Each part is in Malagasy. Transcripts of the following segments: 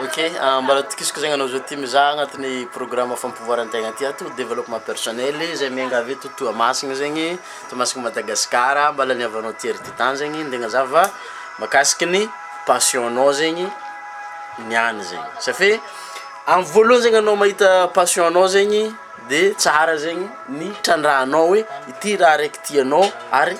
Ok, mba atokisako zegny anao zao ty mizaha agnatin'ny programme fampivoaran-tegna ty ato, développement personnel, zay miaingavy eto Toamasina zegny, Toamasina Madagascar, mba laniavanao ty ery ty tany zegny, ndeha agnazava mahakasiky ny passion-nao zegny niany zegny, safe amy voalohany zegny anao mahita passion-nao zegny de tsara zegny ny trandrahanao hoe ity raha raiky tianao ary.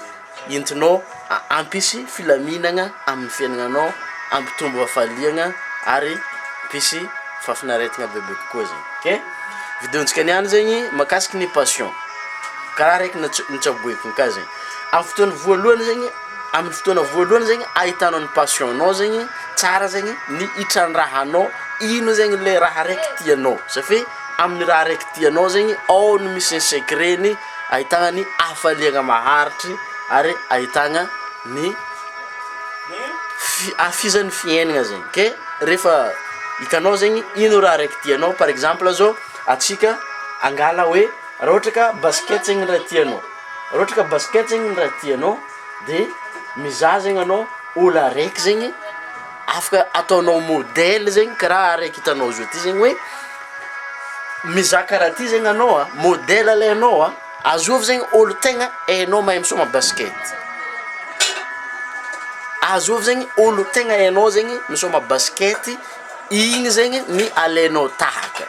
Entinao hampisy filaminagna amin'ny fiaignananao, hampitombo hafaliagna ary hampisy fahafinaretagna bebe kokoa zegny ok. Video-ntsika niany zegny mahakasiky ny passion, karaha araiky notsa- notsaboiko ka zegny, amin'ny fotoagna voalohany zegny amin'ny fotoagna voalohany zegny ahitanao ny passion-nao zegny tsara zegny ny hitrandrahanao ino zegny le raha araiky tianao satria amin'ny raha araiky tianao zegny ao no misy ny secret-ny. Ahitana ny hafaliana maharitry ary ahitana ny hafizan'ny fiainana zegny ke rehefa hitanao zegny ino raha raiky tianao par exemple zao atsika angala hoe raha ohatra ka basket zegny raha tianao raha ohatra ka basket zegny raha tianao de mizaha zegny anao olo araiky zegny afaka ataonao modely zegny karaha araiky hitanao zao ty zegny hoe Mizaka raha ty zegny anao a, modèle lay anao a, azovy zegny olo tegna hainao mahay misoma basket, azovy zegny olo tegna hainao zegny misoma basket, igny zegny ny alainao tahaka,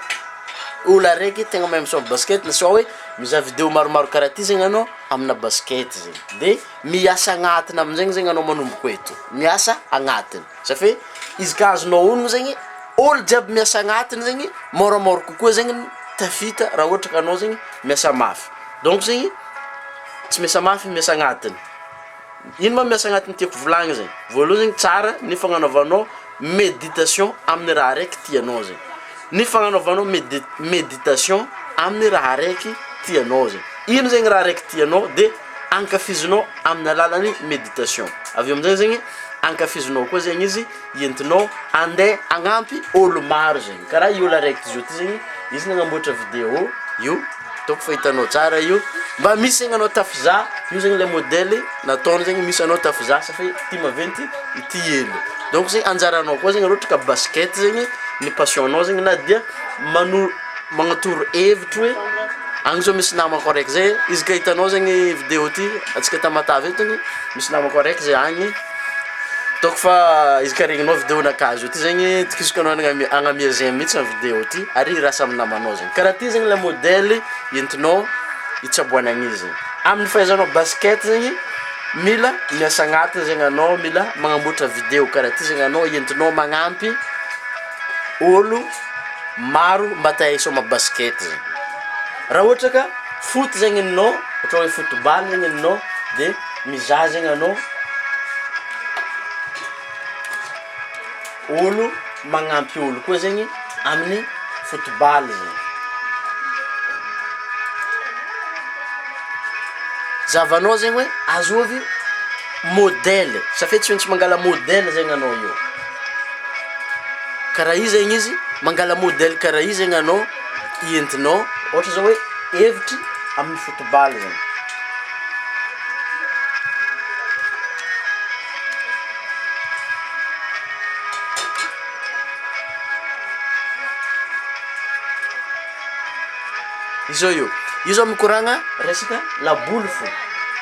olo araiky tegna mahay misoma basket na sao hoe mizaha video maromaro karaha ty zegny anao amina basket zegny, de miasa agnatiny amizegny zegny anao manomboko eto, miasa agnatiny. Zany hoe izy ka azonao onona zegny olo jiaby miasa agnatiny zegny môramôra kokoa zegny ny tafita raha ohatra ka anao zegny miasa mafy, donc zegny tsy miasa mafy miasa agnatiny, ino ma miasa agnatiny tiako volagny zegny? voalohany zegny tsara ny fagnanaovanao meditation amin'ny raha araiky tianao zegny, ny fagnanaovanao medi- meditation amin'ny raha araiky tianao zegny, ino zegny raha araiky tianao de. ankafizinao amin'ny alalan'ny méditation. Avy eo amin'izay zegny, ankafizinao koa zegny izy entinao handeha hagnampy ôlo maro zegny. Karaha io ôlo araiky zao ty zegny, izy nagnamboatra vidéo io, ataoko fa hitanao tsara io, mba misy zegny anao tafizaha, io zegny le modèle nataony zegny misy anao tafizaha sa fe ty maventy ity hely. Donc zay anjaranao koa zegny raha ohatra ka basket zegny ny passion-nao zegny na dia mano- magnatoro hevitro hoe agny zao misy namako araiky zay izy ka hitanao zegny video ty atsika tamatave eto ny misy namako araiky zay agny ataoko fa izy ka regninao video nakahy zao ty zegny tokisoko anao agnamia- agnamia zay mihitsy ny video ty ary hirasa amy namanao zegny karaha ty zegny le modely entinao hitsaboanan'izy amin'ny fahaizanao basket zegny mila miasa agnatiny zegny anao mila magnamboatra video karaha ty zegny anao entinao magnampy olo maro mba te hisôma basket zegny, raha ôhatra ka foot zegny enao ôhatra oe football zegny enao de mizaha zegny anao ôlo magnampy ôlo koa zegny amin'ny football zegny, zahavanao zegny oe azôvy modèle, safia tsy maintsy mangala modèle zegny anao eo. karaha io zegny izy mangala modèle karaha io zegny anao entinao ôhatra zao hoe hevitry amin'ny football zany izao io io zao mikoragna resaka laboly fo.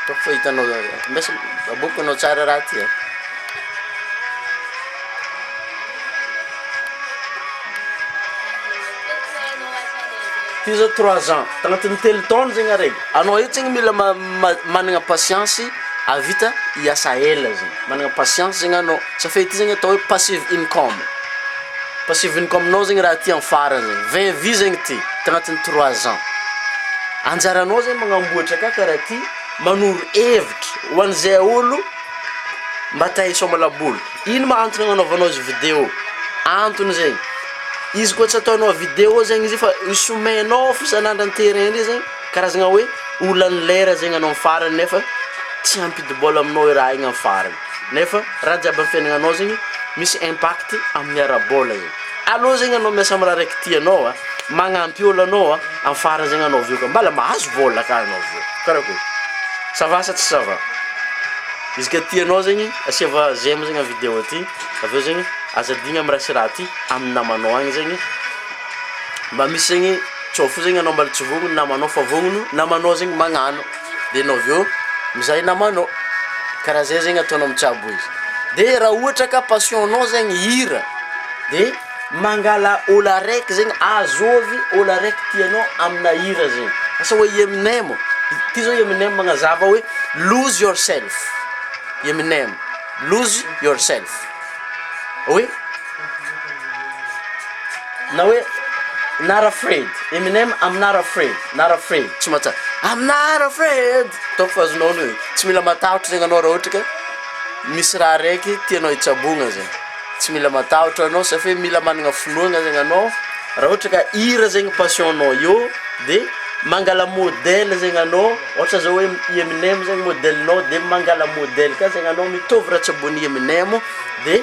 Hitako fa hitanao mbesa baboiko anao tsara raha ty a. Ty zao trois ans tagnatin'ny telo taona zegny araiky anao io zegny mila managna patience avita hiasa ela zegny managna patience zegny anao safe ty zegny atao hoe passive income. Passivin-ko aminao zegny raha ty am farany zegny, vingt vues zegny ty tagnatin'ny trois ans. Anjaranao zegny magnamboatra ka karaha ty, manoro hevitra ho an'izay olo mba te hisômala boly. Ino ma antony agnanaovanao izy video? Antony zegny, izy koa tsy ataonao video zegny izy io fa somehinao fo isan'andro an-terrain ndray zegny, karazagna hoe olan'ny lera zegny anao am farany nefa tsy hampidi-bôla aminao i raha igny am farany. Nefa raha jiaby amin'ny fiainagnanao zegny misy impact amin'ny ara-bola igny. Aleo zegny anao miasa amin'ny raha araiky tianao a, magnampy ôlo anao a, amin'ny farany zegny anao avy eo ka mbala mahazo vôla ka anao avy eo. Karakôry? Ça va sa tsy ça va? Izy ka tianao zegny asiava j'aime zegny am'vidéo ty, avy eo zegny aza adigna amin'ny raha sy raha ty amin'ny namanao agny zegny mba misy zegny tsao fo zegny anao mbala tsy vognogno namanao fa vognogno namanao zegny magnano. dia enao avy eo mizay namanao, karaha zay zegny ataonao mitsabo izy, dia raha ohatra ka passion nao zegny hira dia mangala olo araiky zegny azovy olo araiky tianao amina hira zegny, asa hoe i Eminem, ty zao i Eminem magnazava hoe lose yourself, i Eminem lose yourself, oui. Na hoe Not afraid, Eminem I'm not afraid, not afraid, tsy mahatsa- I'm not afraid, ataoko fa azonao an'io e, tsy mila matahotra zegny anao raha ohatra ka misy raha araiky tianao hitsabogna zay, tsy mila matahotra anao sa fe mila managna finoagna zegny anao, raha ohatra ka hira zegny passion-nao eo de mangala modèle zegny anao, ohatra zao hoe i Eminem zegny modèle-nao de mangala modèle ka zegny anao mitovy raha tsaboin'i Eminem de.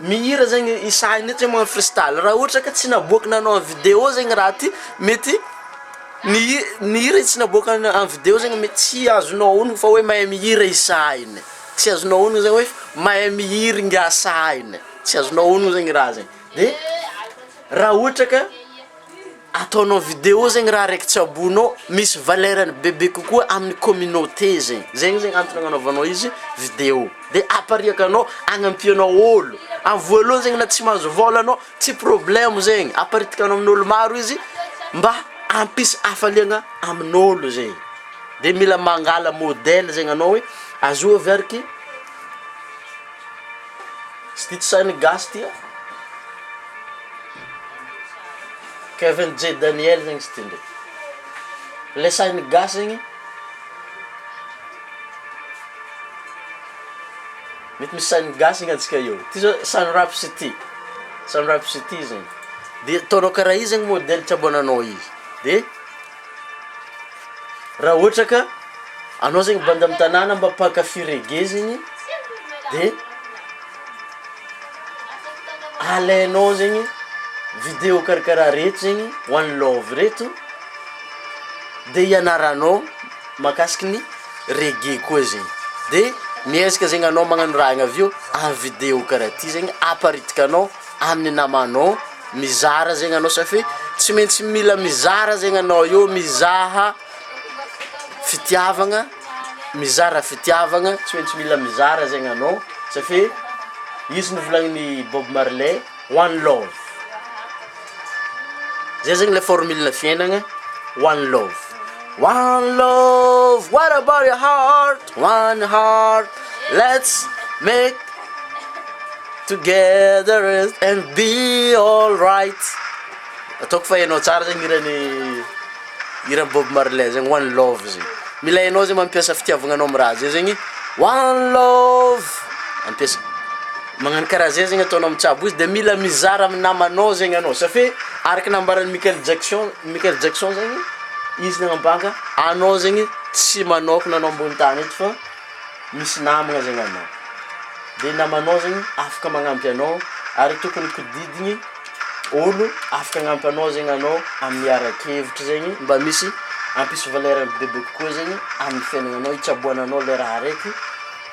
Mihira zegny i Sahy nefa tsy mahay manao freestyle, raha ohatra ka tsy naboaky nanao en vidéo zegny raha ty mety ny hi- ny hira izy tsy naboaka na- en vidéo zegny mety tsy azonao onogno fa hoe mahay mihira i Sahy ne, tsy azonao onogno zany hoe mahay mihira ingahy Sahy ne, tsy azonao onogno zegny raha zegny, de raha ohatra ka. ataonao vidéo zegny raha araiky tsy abono misy valeur-ny bebe kokoa amin'ny communauté zegny, zegny zegny antony agnanaovanao izy vidéo, de apariaka anao agnampianao ôlo, am voalohany zegny na tsy mahazo vôla anao tsy problème zegny, aparitikanao amin'ôlo maro izy mba hampisy hafaliagna amin'ôlo zegny, de mila mangala modèle zegny anao hoe azoa avy ary ity. Tsy tia tsy sahy ny gasy ity an! Kevin J Daniel zegny tsy tia ndreky. Le sahy ny gasy zegny mety misy sahy ny gasy gnantsika eo. Ty zao sun raps ity, sun raps ity zegny de ataonao karaha i zegny modely traboinanao i de. Raha ohatra ka anao zegny banda amin'ny tanàna mba mpankafy reggae zegny de alainao zegny video karakaraha reto zegny one love reto de ianaranao mahakasiky ny reggae koa zegny de miezaka zegny anao magnano raha igny avy eo amin'ny video karaha ty zegny aparitikanao. amin'ny namanao mizara zegny anao satria tsy maintsy mila mizara zegny anao eo mizaha fitiavagna mizara fitiavagna tsy maintsy mila mizara zegny anao satria izy novolagnin'i Bob Marley one love zay zegny le formule-na fiaignagna one love one love what about your heart. One heart let's make together and be all right ataoko fa hainao tsara zegny hiran'i hiran'i Bob Marley zegny one love zegny mila hainao zegny mampiasa fitiavagnanao amin'ny raha zay zegny one love ampiasa magnano karaha zay zegny ataonao mitsabo izy de mila mizara amin'ny namanao zegny anao satria araka nambaran'i Michael Jackson Michael Jackson zegny izy nagnambanga anao zegny Tsy manokana anao ambony tany eto fa misy namagna zegny anao. De namanao zegny afaka magnampy anao ary tokony kodidigny olo afaka agnampy anao zegny anao amin'ny ara-kevitry zegny mba misy hampisy valeur-ny bebe kokoa zegny amin'ny fiaignananao, hitsaboana anao le raha araiky.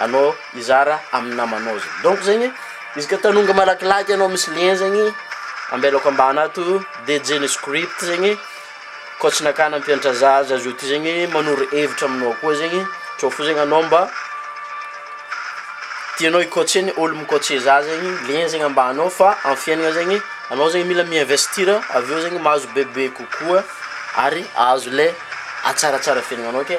anao hizara amin'ny namanao zany donc zegny izy ka tanonga malakilaky anao misy lien zegny ambelako ambany ato DJ ny script zegny koa tsy nakana mpiantra za aza zao ty zegny manoro hevitra aminao koa zegny tsao fo zegny anao mba tianao hi-coacher ny olo mi-coacher za zegny lien zegny ambany ao fa amy fiaignana zegny anao zegny mila mi-investir avy eo zegny mahazo bebe kokoa ary ahazo le hatsaratsara fiaignananao ke.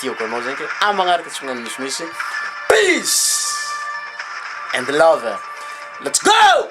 Tiako anao zegny ke ah magnaraka tsy magnano misimisy peace and love let's go!